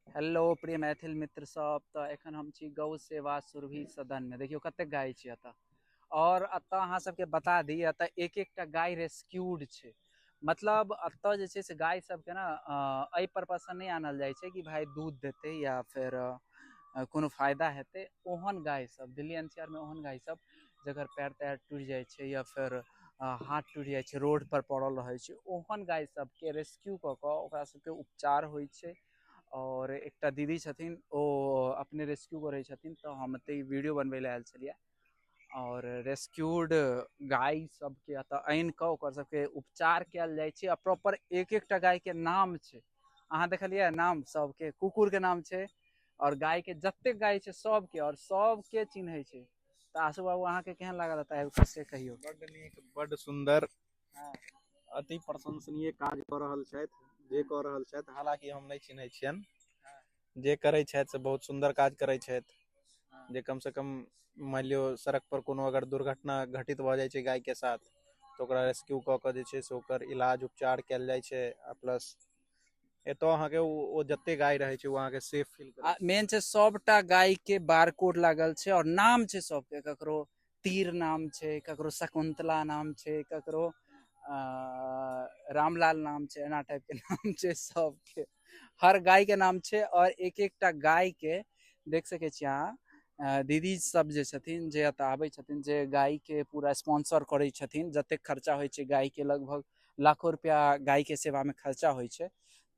hello प्रिय मैथिल मित्र सब तऽ एखन हम छी गौ सेवा सुरभि सदन मे देखियौ कते गाय छी एतऽ आओर एतऽ अहाँ सबके बता दी एतऽ एक एकटा गाय रेस्क्यूड छै मतलब एतऽ जे छै से गाय सबके ने एहि परर्पस से नहि आनल जाइ छै कि भाय दूध देतै या फेर कोनो फायदा हेतै ओहन गाय सब दिल्ली एन सी आर मे ओहन गाय सब जकर पैर तैर टूटि जाइ छै या फेर हाथ टूटि जाइ छै रोडपर पड़ल रहै छै ओहन गाय सबके रेस्क्यू कऽ कऽ ओकरा सबके उपचार होइ छै आओर एकटा दीदी छथिन ओ अपने रेस्क्यू करै छथिन तऽ हम एतऽ वीडियो बनबै लए आयल छलियै आओर रेस्क्यूड गाय सबके एतऽ आनि कऽ ओकर सबके उपचार कयल जाइ छै आ प्रॉपर एक एकटा गायके नाम छै अहाँ देखलियै नाम सबके कुकुरके नाम छै आओर गायके जतेक गाय छै सबके आओर सबके चिन्है छै तऽ आशु बाबू अहाँके केहन लागल एतऽ आबि कऽ से कहियौ बड्ड नीक बड्ड सुन्दर हँ अति प्रशंसनीय काज कऽ रहल छथि जे कऽ रहल छथि हालकि हम नहि चिन्हैत छियनि हँ जे करैत छथि से बहुत सुन्दर काज करैत छथि हँ जे कमसँ कम मानि लियौ सड़क पर कोनो अगर दुर्घटना घटित भऽ जाइत छै गायके साथ तऽ ओकरा रेस्क्यू कऽ कऽ जे छै से ओकर इलाज उपचार कयल जाइत छै आ प्लस एतय अहाँके ओ जते गाय रहै छै ओ अहाँके सेफ फील आ मेन छै सबटा गाय के बारकोड लागल छै और नाम छै सबके ककरो तीर नाम छै ककरो शकुंतला नाम छै ककरो रामलाल नाम छै एना टाइप के नाम छै सबके हर गाय के नाम छै और एक एकटा गाय के देख सके छी अहाँ दीदी सब जे छथिन जे एतऽ आबै छथिन जे गाय के पूरा स्पॉन्सर करै छथिन जतेक खर्चा होइ छै गाय के लगभग लाखो रुपैआ गायके सेवामे खर्चा होइ छै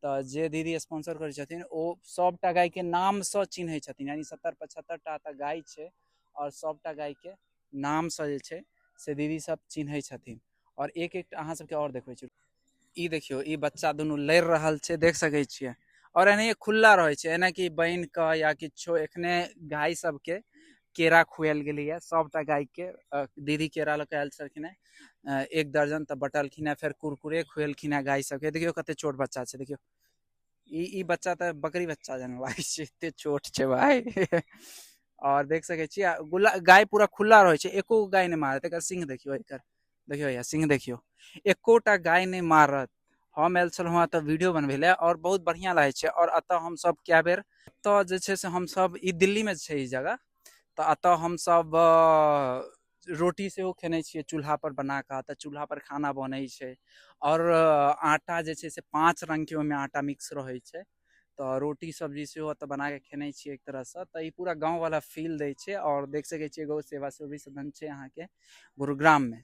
तऽ जे दीदी स्पॉन्सर करै छथिन ओ सभटा गायके नामसँ चिन्है छथिन यानि सत्तर पचहत्तर टा तऽ गाय छै आओर सभटा गायके नामसँ जे छै से दीदी सभ चिन्है छथिन आओर एक एकटा अहाँ सभके आओर देखबै छी ई देखियौ ई बच्चा दुनू लड़ि रहल छै देख सकै छियै आओर एनाहिए खुल्ला रहै छै एना कि बान्हि कऽ या किछो एखने गाय सभके केरा खुआएल गेलैए सभटा गायके दीदी केरा लऽ कऽ आयल छलखिन हेँ एक दर्जन तऽ बँटलखिन हेँ फेर कुरकुरे खुएलखिन हेँ गाय सभके देखियौ कतेक छोट बच्चा छै देखियौ ई ई बच्चा तऽ बकरी बच्चा जेना लागै छै एतेक छोट छै भाय आओर देख सकै छी आ गुला गाय पूरा खुल्ला रहै छै एको गाय नहि मारत एकर सिंह देखियौ एकर देखियो भैया सिंह देखियो एकोटा गाय नहीं मारत हम आयल छलहुँ एतऽ वीडियो बनबै लए आओर बहुत बढ़िआँ लागै छै आओर एतऽ हमसभ कए बेर एतऽ जे छै से हमसभ ई दिल्लीमे छै ई जगह तऽ एतऽ हमसभ रोटी सेहो खेने छियै चूल्हापर बना कऽ तऽ चूल्हापर खाना बनै छै आओर आटा जे छै से पाँच रङ्गके ओहिमे आटा मिक्स रहै छै तऽ रोटी सब्जी सेहो एतऽ बनाकऽ खेने छियै एक तरहसँ तऽ ई पूरा गाँववला फील दै छै आओर देख सकै छियै गौ सेवा सेहो भी सदन छै अहाँके गुरुग्राममे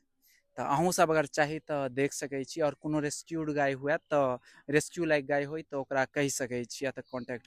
तऽ अहूँ सब अगर चाही तऽ देख सकै छी आओर कोनो रेस्क्यूड गाय हुए तऽ रेस्क्यू लाइक गाय होइ तऽ ओकरा कहि सकै छी या तऽ कॉन्टैक्ट